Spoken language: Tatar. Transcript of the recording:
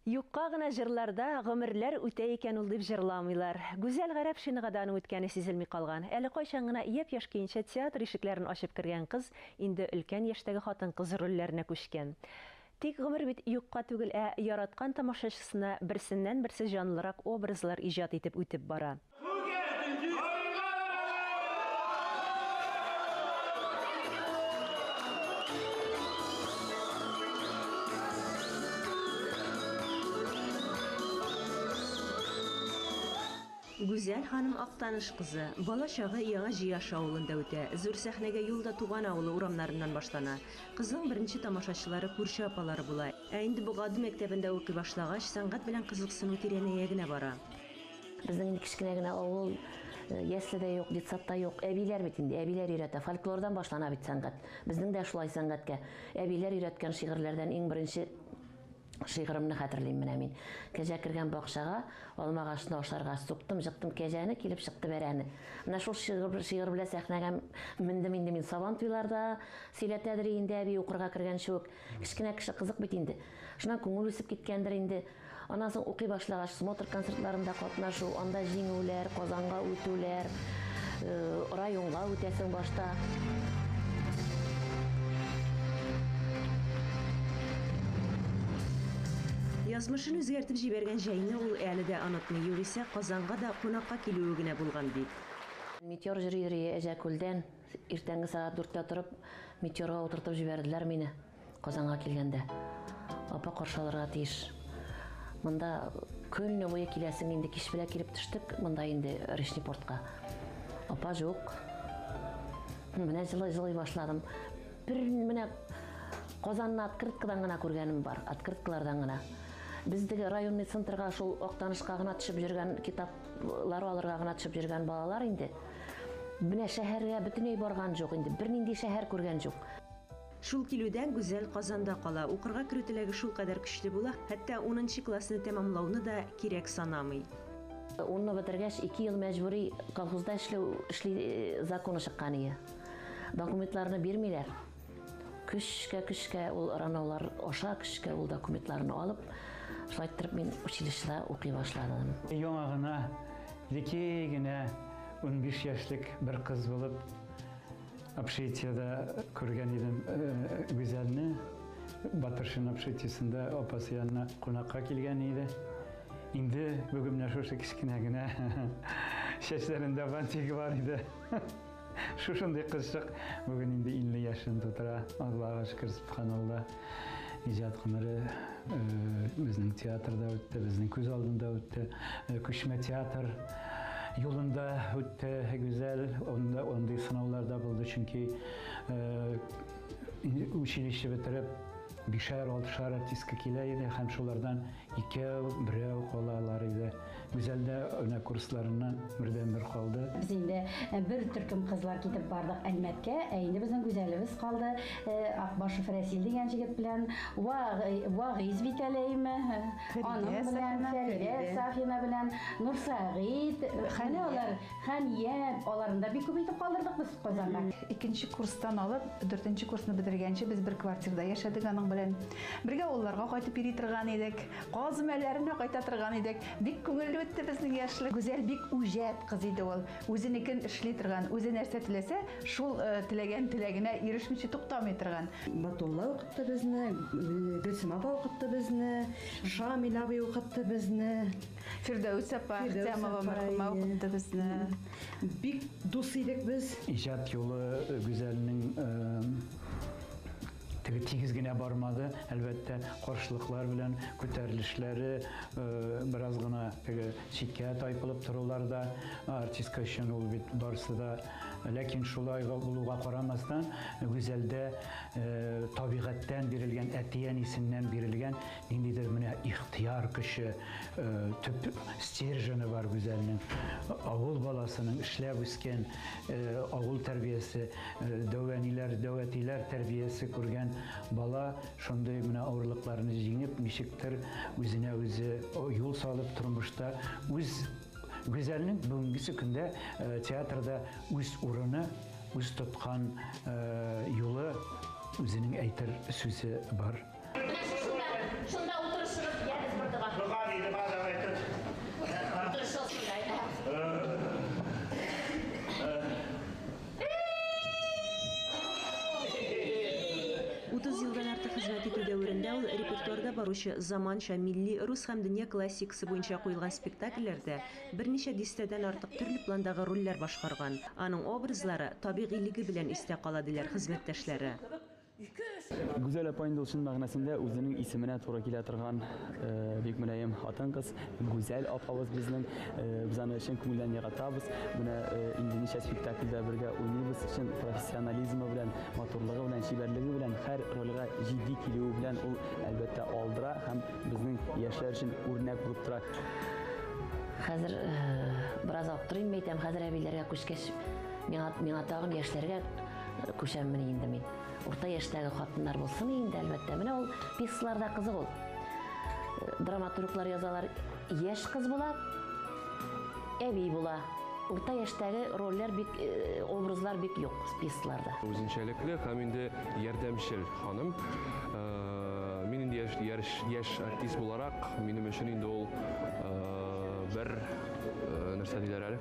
Юкка гына җырларда гомерләр үтә икән ул дип җырламыйлар. Гүзәл Гарәпшинага да аның үткәне сизелми калган. Әле кайчан гына япь-яшь көенчә театр ишекләрен ачып кергән кыз инде өлкән яшьтәге хатын-кыз рольләренә күчкән. Тик гомер бит юкка түгел, ә яраткан тамашачысына берсеннән-берсе җанлырак образлар иҗат итеп үтеп бара. Гүзәл ханым Актаныш кызы. Бала чагы Яңа Җияш авылында үтә. Зур сәхнәгә юл да туган авылы урамнарыннан башлана. Кызның беренче тамашачылары күрше апалары була. Ә инде Богады мәктәбендә укый башлагач, сәнгать белән кызыксыну тирәнәя генә бара. Безнең инде кечкенә генә авыл, э, ясле дә юк, детсад та юк. Әбиләр бит инде, әбиләр өйрәтә. Фольклордан башлана бит сәнгать. Безнең дә шулай сәнгатькә. Әбиләр өйрәткән шигырьләрдән иң беренче шигырымны хәтерлим менә мин. Кәҗә кергән бакчага, алма агачны ашарга, суктым, жыктым кәҗәне, килеп чыкты бәрәне. Менә шул шигырь, шигырь белән сәхнәгә мендем инде мин. Сабан туйларда сөйләтәдер инде әби укырга кергәнче үк. Кечкенә кеше кызык бит инде. Шуннан күңел үсеп киткәндер инде. Аннан соң укый башлагач, смотр концертларында катнашу, анда җиңүләр, Казанга үтүләр, районга үтәсең башта. Язмышын үзгәртеп җибәргән җәйне ул әле дә онытмый, югыйсә Казанга да кунакка килүе генә булган бит. Метеор жюри Әҗәкүлдән Иртәнге сәгать дүрттә торып, метеорга утыртып җибәрделәр мине Казанга килгәндә. Апа каршы алырга тиеш. Монда көнне буе киләсең, инде кич белә килеп төштек монда инде Речный портка. Апа жук. Менә җылый-җылый башладым. Бер менә Казанны открыткадан гына күргәнем бар, открыткалардан гына. Бездеге районный центрга шул Актанышка гына төшеп йөргән китаплар алырга гына төшеп йөргән балалар инде. Менә шәһәргә бөтенләй барган җук, инде бернинди шәһәр күргән җук. Шул килүдән Гүзәл Казанда кала. Укырга керү теләге шулкадәр көчле була, хәтта унынчы классны тәмамлауны да кирәк санамый. Унны бетергәч, ике ел мәҗбүри колхозда эшләү эшли э, законы чыккан ие. Документларны бирмиләр. Көчкә-көчкә ул ранаулар аша, көчкә ул документларны алып, шулай иттереп мин училищеда укый башладым. Яңа гына, леки генә 15 яшьлек бер кыз булып, общежитиеда күргән идем э, Гүзәлне. Батыршин общежитиесында апасы янына кунакка килгән иде. Инде бүген менә шушы кечкенә генә чәчләрендә бантигы бар иде. Шушындый кызчык бүген инде 50 яшен тутыра. Аллага шөкер, субханалла. Иҗат гомере э, безнең театрда үтте, безнең күз алдында үтте. Э, Күчмә театр юлында үтте гүзәл. Онда ондый сынаулар да булды, чөнки э, училище бетереп бишәр, алтышар артистка килә иде һәм шулардан Икәү, берәү калалар иде. Гүзәл дә менә курсларыннан бердәнбер калды. Без инде бер төркем кызлар китеп бардык Әлмәткә, ә инде безнең Гүзәлебез калды Акбашев Рәсил дигән җегет белән, Вагыйз бит әле, әйеме? Аның белән, Фәридә Сафина белән, Нурсәгыйть, менә алар, Хәния, аларны да бик күп итеп калдырдык без Казанда. Икенче курстан алып, дүртенче курсны бетергәнче без бер квартирада яшәдек аның белән. Бергә авылларга кайтып йөри торган идек, Казым әлләренә кайта торган идек. Бик күңелле үтте безнең яшьлек. Гүзәл бик үҗәт кыз иде ул. Үзенекен эшли торган, үзе нәрсә теләсә, шул теләгән теләгенә ирешмичә туктамый торган. Батулла укытты безне, Гөлсем апа укытты безне, Шамил абый укытты безне. Фирдәүс апа Әхтямова мәрхүмә укытты безне. Бик дус идек без. Иҗат юлы Гүзәлнең Теге тигез генә бармады, әлбәттә, каршылыклар белән күтәрелешләре э, бераз гына теге читкә тайпылып торулар да артистка өчен ул бит барысы да. Ләкин шулай булуга карамастан, Гүзәлдә э, табигатьтән бирелгән, әти-әнисеннән бирелгән ниндидер менә ихтияр көче, э, төп стержены бар Гүзәлнең. Авыл баласының эшләп үскән Авыл тәрбиясе, дәү әниләр, дәү әтиләр тәрбиясе күргән бала шундый менә авырлыкларны җиңеп, ничектер үзенә үзе юл салып тормышта үз Гүзәлнең бүгенгесе көндә театрда үз урыны, үз тоткан юлы, үзенең әйтер сүзе бар. баручы заманча, милли, рус һәм дөнья классикасы буенча куелган спектакльләрдә берничә дистәдән артык төрле пландагы рольләр башкарган. Аның образлары табигыйлеге белән истә кала, диләр хезмәттәшләре. Гүзәл апа инде ул чын мәгънәсендә үзенең исеменә туры килә торган э, бик мөлаем хатын-кыз. Гүзәл апабыз безнең. Э, без аны чын күңелдән яратабыз. Менә э, инде ничә спектакльдә бергә уйныйбыз. Чын профессионализмы белән, матурлыгы белән, чибәрлеге белән, һәр рольгә җитди килүе белән ул әлбәттә алдыра һәм безнең яшьләр өчен үрнәк булып тора. Хәзер бераз аптырыйм әйтәм, хәзер әбиләргә күчкәч, миңа, миңа тагын яшьләргә күчәммени инде мин. Урта яшьтәге хатыннар булсын инде, әлбәттә. Менә ул пьесаларда кызык ул. Драматурглар язалар, яшь кыз була, әби була. Урта яшьтәге рольләр бик э, образлар бик юк пьесаларда. Үзенчәлекле һәм инде ярдәмчел ханым. Э, мин инде яшь, яшь, яшь артист буларак, минем өчен инде ул э, бер нәрсә диләр әле